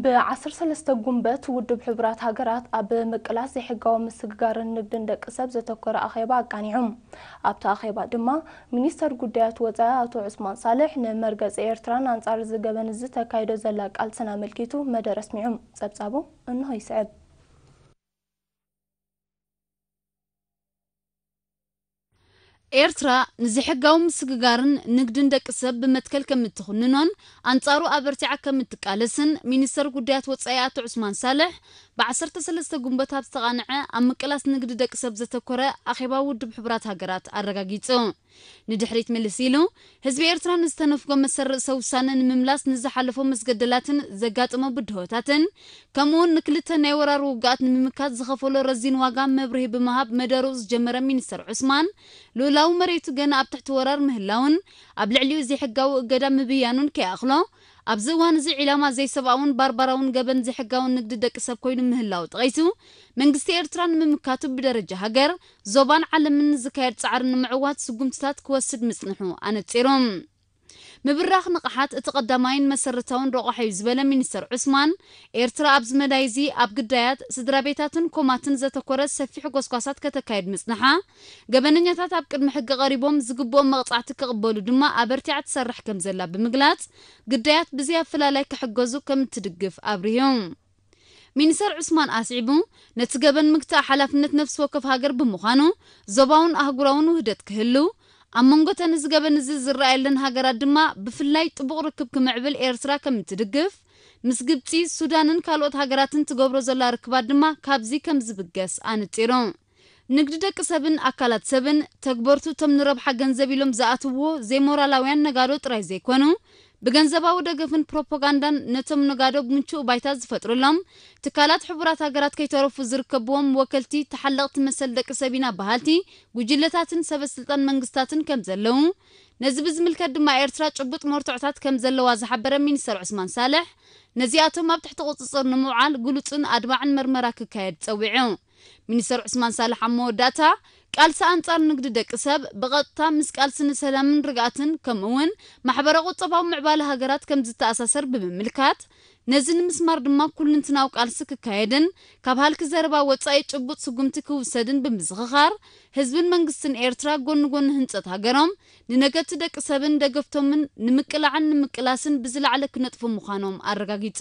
ብ ዓሰርተ ሰለስተ ጉንበት ውድብ ሕቡራት ሃገራት ኣብ ምቅላስ ዘይሕጋዊ ምስግጋርን ንግድን ደቂ ሰብ ዘተኮረ ኣኼባ ኣቃኒዑ። ኣብቲ ኣኼባ ድማ ሚኒስተር ጉዳያት ወጻኢ ኣቶ ዑስማን ሳልሕ ንመርገጺ ኤርትራን ኣንጻር እዚ ገበን እዚ ተካይዶ ዘላ ቃልስን ኣመልኪቱ መደረ ኣስሚዑ። ጸብጻቡ እንሆ ይስዕብ። ኤርትራ ንዘይሕጋዊ ምስግጋርን ንግድን ደቂ ሰብ ብመትከል ከም እትኹንኖን ኣንጻሩ ኣበርቲዓ ከም እትቃለስን ሚኒስተር ጉዳያት ወጻኢ ኣቶ ዑስማን ሳልሕ ብ ዓሰርተ ሰለስተ ግንቦት ኣብ ዝተቓንዐ ኣብ ምቅላስ ንግዲ ደቂ ሰብ ዘተኮረ ኣኼባ ውድብ ሕቡራት ሃገራት ኣረጋጊጹ። ንድሕሪት ምልስ ኢሉ ህዝቢ ኤርትራ ንዝተነፍጎ መሰል ርእሰ ውሳነ ንምምላስ ንዝሓለፎ መስገደላትን ዘጋጠሞ ብድሆታትን ከምኡውን ንክልተ ናይ ወራር ውግኣት ንምምካት ዝኸፈሎ ረዚን ዋጋ መብርሂ ብምሃብ መደርኡ ዝጀመረ ሚኒስተር ዑስማን ልኡላዊ መሬቱ ገና ኣብ ትሕቲ ወራር ምህላውን ኣብ ልዕሊኡ ዘይሕጋዊ እገዳ ምብያኑን ከይኣኽሎ ኣብዚ እዋን እዚ ዒላማ ዘይሰብኣውን ባርባራውን ገበን ዘይሕጋውን ንግዲ ደቂ ሰብ ኮይኑ ምህላው ጠቒሱ መንግስቲ ኤርትራ ንምምካቱ ብደረጃ ሃገር ዞባን ዓለምን ንዝካየድ ጻዕሪ ንምዕዋት ስጉምትታት ክወስድ ምጽንሑ ኣነጺሩ። ምብራኽ ንቕሓት እቲ ቀዳማይን መሰረታውን ረቋሒ'ዩ ዝበለ ሚኒስተር ዑስማን፣ ኤርትራ ኣብዚ መዳይ'ዚ ኣብ ግዳያት፣ ስድራቤታትን ኮማትን ዘተኮረ ሰፊሕ ጎስጓሳት ከተካይድ ምጽንሓ፣ ገበነኛታት ኣብ ቅድሚ ሕጊ ቀሪቦም ዝግብኦም መቕጻዕቲ ክቕበሉ ድማ ኣበርቲዓ ትሰርሕ ከምዘላ ብምግላጽ፣ ግዳያት ብዘይኣፈላላይ ክሕገዙ ከምእትድግፍ ኣብሪሁ። ሚኒሰር ዑስማን ኣስዒቡ፣ ነቲ ገበን ምግታእ ሓላፍነት ነፍሲ ወከፍ ሃገር ብምዃኑ፣ ዞባውን ኣህጉራውን ውህደት ክህሉ፣ ኣብ መንጎ እተን እዚ ገበን እዚ ዝረኣየለን ሃገራት ድማ ብፍላይ ጥቡቕ ርክብ ክምዕብል ኤርትራ ከም እትድግፍ፣ ምስ ግብጺ፣ ሱዳንን ካልኦት ሃገራትን ትገብሮ ዘላ ርክባት ድማ ካብዚ ከም ዝብገስ ኣነጺሩ። ንግዲ ደቂ ሰብን ኣካላት ሰብን፣ ተግበርቱ እቶም ንረብሓ ገንዘብ ኢሎም ዝኣትውዎ ዘይሞራላውያን ነጋዶ ጥራይ ዘይኮኑ፣ ብገንዘባዊ ደገፍን ፕሮፖጋንዳን ነቶም ነጋዶ ምቹእ ባይታ ዝፈጥርሎም ትካላት ሕቡራት ሃገራት ከይተረፉ ዝርከብዎም ወከልቲ ተሓለቕቲ መሰል ደቂ ሰብ ኢና በሃልቲ ጉጅለታትን ሰበስልጣን መንግስታትን ከምዘለዉ ነዚ ብዝምልከት ድማ ኤርትራ ጭቡጥ መርትዖታት ከምዘለዋ ዝሓበረ ሚኒስተር ዑስማን ሳልሕ ነዚኣቶም ኣብ ትሕቲ ቁጽጽር ንምውዓል ግሉጽን ኣድማዕን መርመራ ክካየድ ጸዊዑ። ሚኒስተር ዑስማን ሳልሕ ኣብ መወዳእታ፣ ቃልሲ ኣንጻር ንግዲ ደቂ ሰብ፣ ብቐጥታ ምስ ቃልሲ ንሰላምን ርግኣትን ከምኡ'ውን ማሕበረ-ቁጠባዊ ምዕባለ ሃገራት ከም ዝተኣሳሰር ብምምልካት፣ ነዚ ንምስማር ድማ ኩሉንትናዊ ቃልሲ ክካየድን ካብ ሃልኪ ዘረባ ወጻኢ ጭቡጥ ስጉምቲ ክውሰድን ብምዝኽኻር፣ ህዝብን መንግስትን ኤርትራ ጎኒ ጎኒ ህንጸት ሃገሮም፣ ንነገድቲ ደቂ ሰብን ደገፍቶምን ንምቅላዕን ንምቅላስን ብዝለዓለ ክነጥፉ ምዃኖም ኣረጋጊጹ።